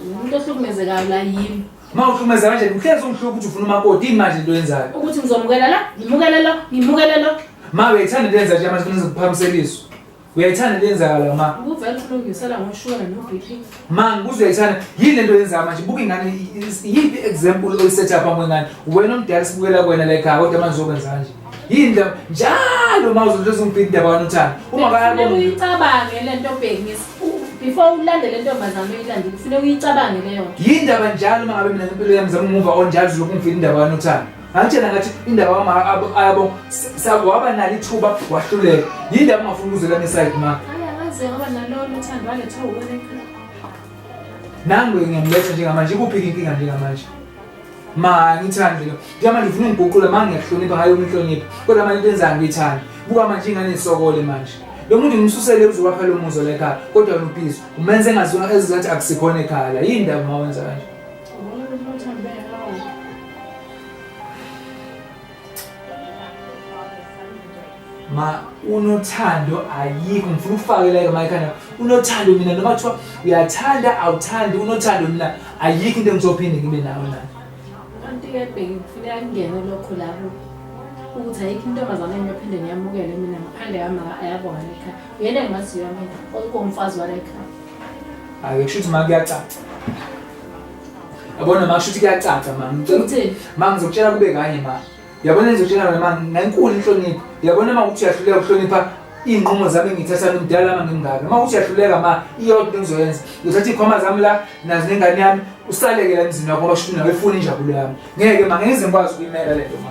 umuntu ohlukumezekayo la yimi ma uhlukumeza kanje uhlezi ungihlupha ukuthi ufuna umakoti yini manje into yenzayo ukuthi ngizomukela la ngimukele lo ngimukele lo ma uyayithanda into yenza nje manje funa ngikuphakamiseliswe uyayithanda into yenzakala ma ubuvele ukulungisela ngoshukela no-b p ma ngibuze uyayithanda yini le nto yenzaka manje buka ingane yiphi i-example oyisetha phambi kwengane wena omdala sibukela kwena la ekhaya kodwa manje uzokwenza kanje yini ndaba njalo ma uzoluthoza ungibhida indaba wanothanda uma kayacabange le nto bheki before ulande le ntombazane uyilande kufuneka uyicabange leyo nto yindaba njalo uma ngabe mina impilo yami zama umuva onjalo zilokhu ngifika indaba kanothando ngangitshela ngathi indaba wama ayabo waba nalo ithuba wahluleka yindaba ungafuni ukuzela neside ma nangu ngiyamletha njengamanje ikuphi-ke inkinga njengamanje ma ngithandi lo njengoba ngifuna ungiguqula ma ngiyakuhlonipha hayi umhlonipha kodwa manje into enzayo ngiyithandi buka manje ingane isokole manje lo muntu ngimsusele uzowakha lo muzo lekhaya kodwa wena upiso umenze engazona ezizathi akusikhona ekhaya la yini ndaba uma wenza kanje ma unothando ayikho ngifuna ukufakeleke mayikhanda unothando mina noma kuthiwa uyathanda awuthandi unothando mina ayikho into engizophinde ngibe nayo na kanti-ke bheki kufuneka kungene lokho lapho ukuthi ayikho intombazane engiyophinde ngiyamukele mina ngaphandle kama ayabona lekhaya uyena engimaziyo mina okomfazi walekhaya ake kusho ukuthi ma kuyacaca Yabona ma shuthi kuyacaca ma. Ngicela ukuthi ma ngizokutshela kube kanye ma. Yabona ngizokutshela wena ma ngenkulu inhlonipho. Yabona ma ukuthi uyahluleka ukuhlonipha iy'nqumo zami engiyithatha nomdala ama ngimngaka uma ukuthi uyahluleka ma iyodwa into engizoyenza ngizothatha iy'khwama zami la nazo nengane yami usaleke la emzini wakho ngoba shuthi nawe ifuna injabulo yami ngeke ma ngeke ngize ngikwazi ukuyimela le nto ma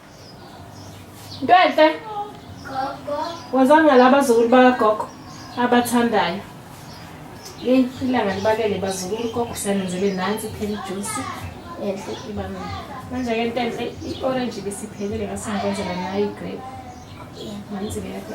Ntwenhle. Gogo. Wazanga la bazukulu bakagogo abathandayo. Yeyi ilanga libalele bazukulu gogo siyanenzele nansi phela ijusi enhle ibamile. Manje-ke Ntenhle i-orange ibisiphelile ngasengikwenzela nayo igrape. Nansi-ke yakho